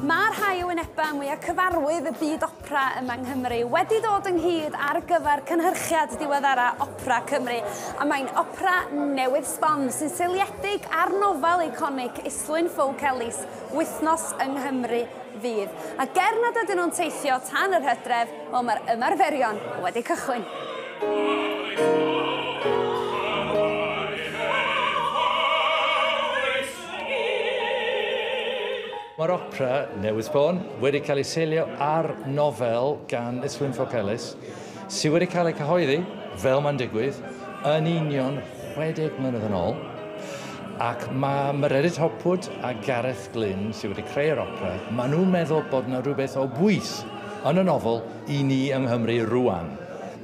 Mae rhai o wynebau mwyaf cyfarwydd y byd opera yma yng Nghymru wedi dod ynghyd ar gyfer cynhyrchiad diweddara Opera Cymru, a mae'n opera newydd sbon sy'n seiliedig ar nofel eiconig Islwyn Ffowc Elis, Wythnos yng Nghymru fydd. A ger nad ydyn nhw'n teithio tan yr hydref, Wel, mae'r ymarferion wedi cychwyn. Mae'r opera newydd sbon wedi cael ei seilio ar nofel gan Islwyn Ffowc Elis, sydd wedi cael ei cyhoeddi, fel mae'n digwydd, yn union 60 mlynedd yn ôl, ac mae Mererid Hopwood a Gareth Glyn, sydd wedi creu'r opera, maen nhw'n meddwl bod yna rhywbeth o bwys Yn y nofel, I ni yng Nghymru rŵan.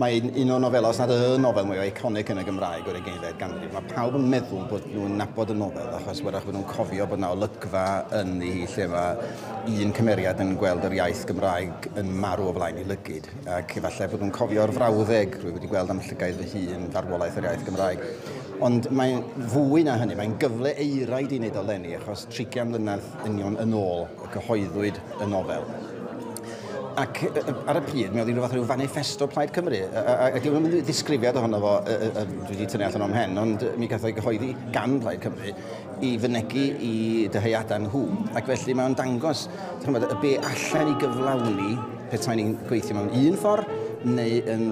Mae'n un o'r nofelau, os nad y nofel mwyaf eiconig yn y Gymraeg o'r ugeinfed ganrif. Mae pawb yn meddwl bod nhw'n nabod y nofel achos wrach bod nhw'n cofio bod yna olygfa ynddi hi lle mae un cymeriad yn gweld yr iaith Gymraeg yn marw o flaen ei lygid ac efallai bod nhw'n cofio'r frawddeg rwy wedi gweld am llygaid fy hun, farwolaeth yr iaith Gymraeg. Ond mae'n fwy na hynny, mae'n gyfle eiraid i wneud o leni achos 30 mlynedd union yn ôl. y cyhoeddwyd y nofel. Ac ar y pryd, mi oedd hi'n rhywbeth rhyw fanifesto Plaid Cymru. Ac ddim yn ddisgrifiad ohono fo, dwi wedi tynnu allan o'n hen, ond mi gath o'i gyhoeddi gan Plaid Cymru i fynegu i dyheuadau nhw. Ac felly mae'n dangos chymod, y be allan i gyflawni pethau ni'n gweithio mewn un ffordd neu yn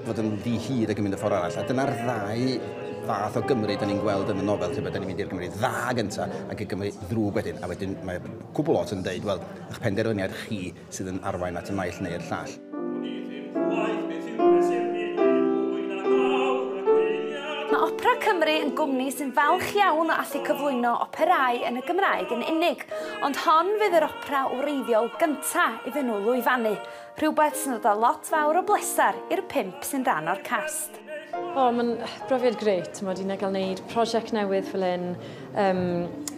fod yn ddi hir ac yn mynd y ffordd arall. A dyna'r ddau fath o Gymru da ni'n gweld yn y nofel, lle bod ni'n mynd i'r Gymru dda gyntaf ac y Gymru ddrwg wedyn, a wedyn mae cwbl lot yn deud, wel, eich penderfyniad chi sydd yn arwain at y naill neu'r llall. Mae Opera Cymru yn gwmni sy'n falch iawn o allu cyflwyno operâu yn y Gymraeg yn unig, ond hon fydd yr opera wreiddiol gynta' iddyn nhw lwyfannu, rhywbeth sy'n dod â lot fawr o bleser i'r pump sy'n rhan o'r cast. O, oh, mae'n brofiad greit, ti'n modd, i na gael wneud prosiect newydd fel un, um,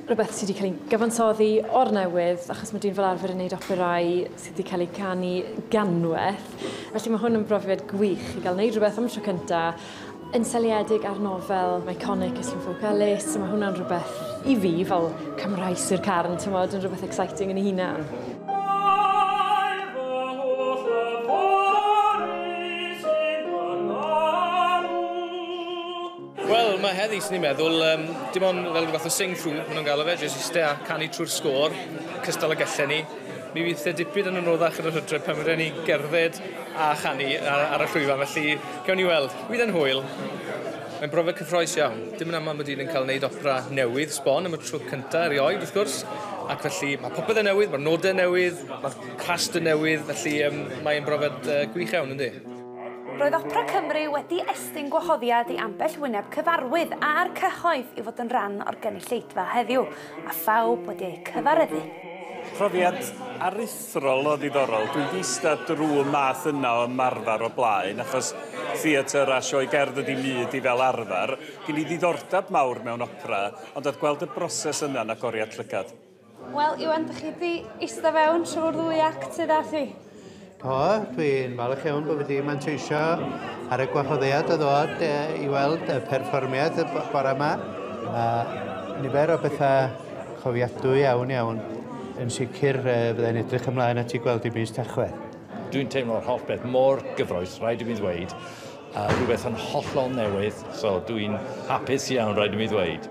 rhywbeth sydd wedi cael ei gyfansoddi o'r newydd, achos mae dyn fel arfer yn gwneud operau sydd wedi cael ei canu ganwaith. Felly mae hwn yn brofiad gwych i gael wneud rhywbeth am y tro cyntaf, yn seliedig ar nofel iconic y Llwfwg Galus, so mae hwnna'n rhywbeth i fi fel Cymraes i'r carn, ti'n modd, yn rhywbeth exciting yn ei hunan. Wel, mae heddi, sy'n ni'n meddwl, um, dim ond fel rhywbeth o sing-through, maen nhw'n gael o fe, jyst i stea canu trwy'r sgôr, cystal y gelle ni. Mi fydd e dipyn yn anoddach yn yr hydref pan fydden ni gerdded a chanu ar, ar y llwyfan, felly gawn ni weld. Bydd e'n hwyl. Mae'n brofiad cyffroes iawn. Dim yn aml mae dyn yn cael wneud opera newydd, sbon, am y tro cyntaf erioed, wrth gwrs, ac felly mae popeth yn newydd, mae'r nodau yn newydd, mae'r cast yn newydd, felly um, mae'n brofiad uh, gwych iawn, ynddi. Roedd Opera Cymru wedi estyn gwahoddiad i ambell wyneb cyfarwydd a'r cyhoedd i fod yn rhan o'r gynulleidfa heddiw, a phawb wedi eu cyfareddu. Profiad aruthrol Thryllo ddiddorol. Dwi 'di ista drw y math yna o ymarfer o blaen, achos theatr a sioe gerdd ydi myd i fel arfer. Gin i ddiddordeb mawr mewn opera, ond oedd gweld y broses yna'n agoriad llygad. Wel, Iwan, dych chi 'di ista fewn trwy'r ddwy act sydd â thi? Do, dwi'n falch iawn bod fi 'di manteisio ar y gwahoddiad o ddod i weld y perfformiad y bore 'ma, a nifer o bethau cofiadwy iawn iawn. Yn sicr, fydda i'n edrych ymlaen at i gweld i mis Tachwedd. Dwi'n teimlo'r holl beth mor gyffroes, rhaid i mi ddweud, a rhywbeth yn hollol newydd, so dwi'n hapus iawn, rhaid i mi ddweud.